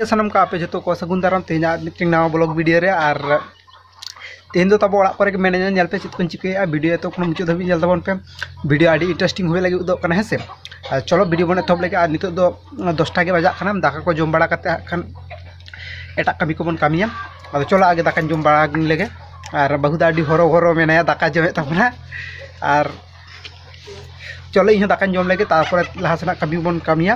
ᱥᱟᱱᱟᱢ ᱠᱚ ᱟᱯᱮ ᱡᱚᱛᱚ ᱠᱚ ᱥᱟᱹᱜᱩᱱ ᱫᱟᱨᱟᱢ ᱛᱮᱦᱮᱧᱟᱜ ᱢᱤᱫᱴᱮᱱ ᱱᱟᱣᱟ ᱵᱞᱚᱜ ᱵᱷᱤᱰᱤᱭᱳ ᱨᱮ ᱟᱨ ᱛᱮᱦᱮᱧ ᱫᱚ ᱛᱟᱵᱚ ᱚᱲᱟᱜ ᱠᱚᱨᱮ ᱜᱮ ᱢᱮᱱᱟᱧᱟ ᱧᱮᱞ ᱯᱮ ᱪᱮᱫ ᱠᱚᱧ ᱪᱤᱠᱟᱹᱭᱮᱫᱼᱟ ᱵᱷᱤᱰᱤᱭᱳ ᱮᱛᱚ ᱠᱷᱚᱱ ᱢᱩᱪᱟᱹᱫ ᱫᱷᱟᱹᱵᱤᱡ ᱧᱮᱞ ᱛᱟᱵᱚᱱ ᱯᱮ ᱵᱷᱤᱰᱤᱭᱳ ᱟᱹᱰᱤ ᱤᱱᱴᱟᱨᱮᱥᱴᱤᱝ ᱦᱩᱭ ᱞᱟᱹᱜᱤᱫ ᱩᱫᱚᱜ ᱠᱟᱱᱟ ᱦᱮᱸ ᱥᱮ ᱟᱨ ᱪᱚᱞᱚ ᱵᱷᱤᱰᱤᱭᱳ ᱵᱚᱱ ᱮᱛᱚᱦᱚᱵ ᱞᱮᱜᱮ ᱟᱨ ᱱᱤᱛᱚᱜ ᱫᱚ ᱫᱚᱥᱴᱟ ᱜᱮ ᱵᱟᱡᱟᱜ ᱠᱟᱱᱟ ᱫᱟᱠᱟ ᱠᱚ ᱡᱚᱢ ᱵᱟᱲᱟ ᱠᱟᱛᱮ ᱦᱟᱸᱜ ᱠᱷᱟᱱ ᱮᱴᱟᱜ ᱠᱟᱹᱢᱤ ᱠᱚᱵᱚᱱ ᱠᱟᱹᱢᱤᱭᱟ ᱟᱫᱚ ᱪᱚᱞᱚ ᱟᱜᱮ ᱫᱟᱠᱟᱧ ᱡᱚᱢ ᱵᱟᱲᱟ ᱞᱮᱜᱮ ᱟᱨ ᱵᱟᱹᱦᱩ ᱫᱚ ᱟᱹᱰᱤ ᱦᱚᱨᱚ ᱵᱚᱨᱚ ᱢᱮᱱᱟᱭᱟ ᱫᱟᱠᱟ ᱡᱚᱢᱮᱫ ᱛᱟᱵᱚᱱᱟ ᱟᱨ ᱪᱚᱞᱚ ᱤᱧ ᱦᱚᱸ ᱫᱟᱠᱟᱧ ᱡᱚᱢ ᱞᱮᱜᱮ ᱛᱟᱨᱯᱚᱨᱮ ᱞᱟᱦᱟ ᱥᱮᱱᱟᱜ ᱠᱟᱹᱢᱤ ᱵᱚᱱ ᱠᱟᱹᱢᱤᱭᱟ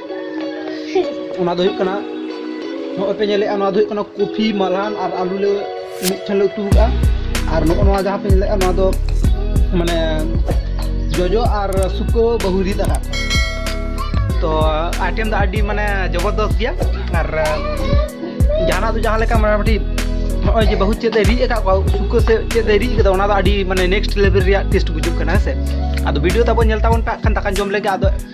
ᱚᱱᱟ ᱫᱚ ᱦᱩᱭᱩᱜ ᱠᱟᱱᱟ ᱱᱚᱜᱼᱚᱭ ᱯᱮ ᱧᱮᱞᱮᱜᱼᱟ ᱱᱚᱣᱟ ᱫᱚ ᱦᱩᱭᱩᱜ ᱠᱟᱱᱟ ᱠᱚᱯᱷᱤ ᱢᱟᱞᱦᱟᱱ ᱟᱨ ᱟᱞᱩ ᱞᱮ ᱢᱤᱫᱴᱷᱮᱱ ᱞᱮ ᱩᱛᱩ ᱠᱟᱜᱼᱟ ᱟᱨ ᱱᱚᱜᱼᱚ ᱱᱚᱣᱟ ᱡᱟᱦᱟᱸ ᱯᱮ ᱧᱮᱞᱮᱜᱼᱟ ᱱᱚᱣᱟ ᱫᱚ ᱢᱟᱱᱮ ᱡᱚᱡᱚ ᱟᱨ ᱥᱩᱠᱟᱹ ᱵᱟᱹᱦᱩᱨᱤ ᱫᱟᱠᱟ ᱛᱚ ᱟᱭᱴᱮᱢ ᱫᱚ ᱟᱹᱰᱤ ᱢᱟᱱᱮ ᱡᱚᱵᱚᱨᱫᱚᱥ ᱜᱮᱭᱟ ᱟᱨ ᱡᱟᱦᱟᱱᱟᱜ ᱫᱚ ᱡᱟᱦᱟᱸ ᱞᱮᱠᱟ ᱢᱚᱴᱟᱢᱩᱴᱤ ᱱᱚᱜᱼᱚᱭ ᱡᱮ ᱵᱟᱹᱦᱩ ᱪᱮᱫ ᱮ ᱨᱤᱫ ᱟᱠᱟᱫ ᱠᱚᱣᱟ ᱥᱩᱠᱟᱹ ᱥᱮ ᱪᱮᱫ ᱮ ᱨᱤᱫ ᱠᱟᱫᱟ ᱚᱱᱟ ᱫᱚ ᱟᱹᱰᱤ ᱢᱟᱱᱮ ᱱᱮᱠᱥᱴ ᱞᱮᱵᱮᱞ ᱨᱮᱭᱟᱜ ᱴᱮᱥᱴ ᱵᱩᱡᱩᱜ ᱠᱟᱱᱟ ᱦᱮᱸ ᱥᱮ ᱟᱫᱚ ᱵᱷᱤᱰᱤᱭᱳ ᱛᱟᱵᱚᱱ ᱧᱮᱞ ᱛᱟᱵᱚᱱ ᱯᱮ ᱠᱷᱟᱱ ᱫᱟᱠᱟ ᱡᱚᱢ ᱞᱮᱜᱮ ᱟᱫᱚ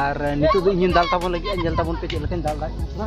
ᱟᱨ ᱱᱤᱛᱚᱜ ᱫᱚ ᱤᱧᱤᱧ ᱫᱟᱞ ᱛᱟᱵᱚᱱ ᱞᱟᱹᱜᱤᱫ ᱧᱮᱞ ᱛᱟᱵᱚᱱ ᱯᱮ ᱪᱮᱫ ᱞᱮᱠᱟᱧ ᱫᱟᱞ ᱫᱟᱲᱮᱭᱟᱜ ᱠᱟᱱᱟ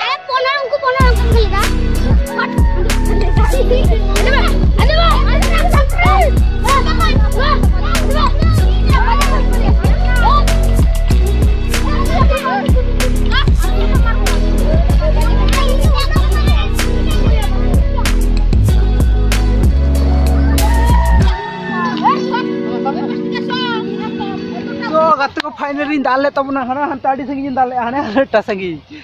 ᱜᱟᱛᱮ ᱠᱚ ᱯᱷᱟᱭᱱᱟᱞᱤᱧ ᱫᱟᱞ ᱞᱮᱫ ᱛᱟᱵᱚᱱᱟ ᱦᱟᱱᱟ ᱦᱟᱱᱛᱮ ᱟᱹᱰᱤ ᱥᱟᱺᱜᱤᱧ ᱫᱟᱞ ᱞᱮᱫᱼᱟ ᱦᱟᱱᱮ ᱦᱟᱱᱮᱴᱟ ᱥᱟᱺᱜᱤᱧ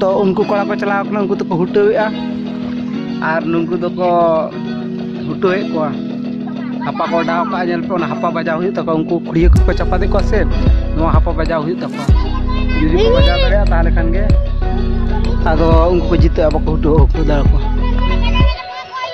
ᱛᱚ ᱩᱱᱠᱩ ᱠᱚᱲᱟ ᱠᱚ ᱪᱟᱞᱟᱣ ᱠᱟᱱᱟ ᱩᱱᱠᱩ ᱫᱚᱠᱚ ᱦᱩᱴᱟᱹᱣᱮᱫᱼᱟ ᱟᱨ ᱱᱩᱠᱩ ᱫᱚᱠᱚ ᱦᱩᱴᱟᱹᱣᱮᱫ ᱠᱚᱣᱟ ᱦᱟᱯᱟ ᱠᱚ ᱚᱰᱟᱣ ᱠᱟᱜᱼᱟ ᱧᱮᱞ ᱯᱮ ᱚᱱᱟ ᱦᱟᱯᱟ ᱵᱟᱡᱟᱣ ᱦᱩᱭᱩᱜ ᱛᱟᱠᱚᱣᱟ ᱩᱱᱠᱩ ᱠᱷᱩᱲᱤᱭᱟᱹ ᱠᱚᱠᱚ ᱪᱟᱯᱟᱫᱮᱫ ᱠᱚᱣᱟ ᱥᱮ ᱱᱚᱣᱟ ᱦᱟᱯᱟ ᱵᱟᱡᱟᱣ ᱦᱩᱭᱩᱜ ᱛᱟᱠᱚᱣᱟ ᱡᱩᱫᱤ ᱠᱚ ᱵᱟᱡᱟᱣ ᱫᱟᱲᱮᱭᱟᱜᱼᱟ ᱛᱟᱦᱚᱞᱮ ᱠᱷᱟᱱ ᱜᱮ ᱟᱫᱚ ᱩᱱᱠᱩ ᱠᱚ ᱡᱤᱛᱟᱹᱜᱼᱟ ᱵᱟᱠᱚ ᱦᱩᱴᱟᱹᱣ ᱦᱩᱴᱟᱹᱣ ᱫᱟᱲᱮ ᱠᱚᱣᱟ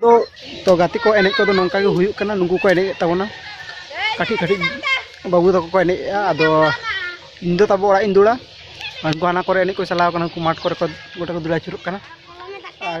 ᱫᱚ ᱛᱚ ᱜᱟᱛᱮ ᱠᱚ ᱮᱱᱮᱡ ᱠᱚᱫᱚ ᱱᱚᱝᱠᱟ ᱜᱮ ᱦᱩᱭᱩᱜ ᱠᱟᱱᱟ ᱱᱩᱠᱩ ᱠᱚ ᱮᱱᱮᱡ ᱛᱟᱵᱚᱱᱟ ᱠᱟᱹᱴᱤᱡ ᱠᱟᱹᱴᱤᱡ ᱵᱟᱹᱵᱩ ᱛᱟᱠᱚ ᱠᱚ ᱮᱱᱮᱡᱼᱟ ᱟᱫᱚ ᱤᱧ ᱫᱚ ᱛᱟᱵᱚ ᱚᱲᱟᱜ ᱤᱧ ᱫᱩᱲᱟ ᱩᱱᱠᱩ ᱦᱟᱱᱟ ᱠᱚᱨᱮ ᱮᱱᱮᱡ ᱠᱚ ᱪᱟᱞᱟᱣ ᱠᱟᱱᱟ ᱩᱱᱠᱩ ᱢᱟᱴᱷ ᱠᱚᱨᱮ ᱠᱚ ᱜᱚᱴᱟ ᱠᱚ ᱫᱩᱲᱟ ᱟᱹᱪᱩᱨᱚᱜ ᱠᱟᱱᱟ ᱟᱨ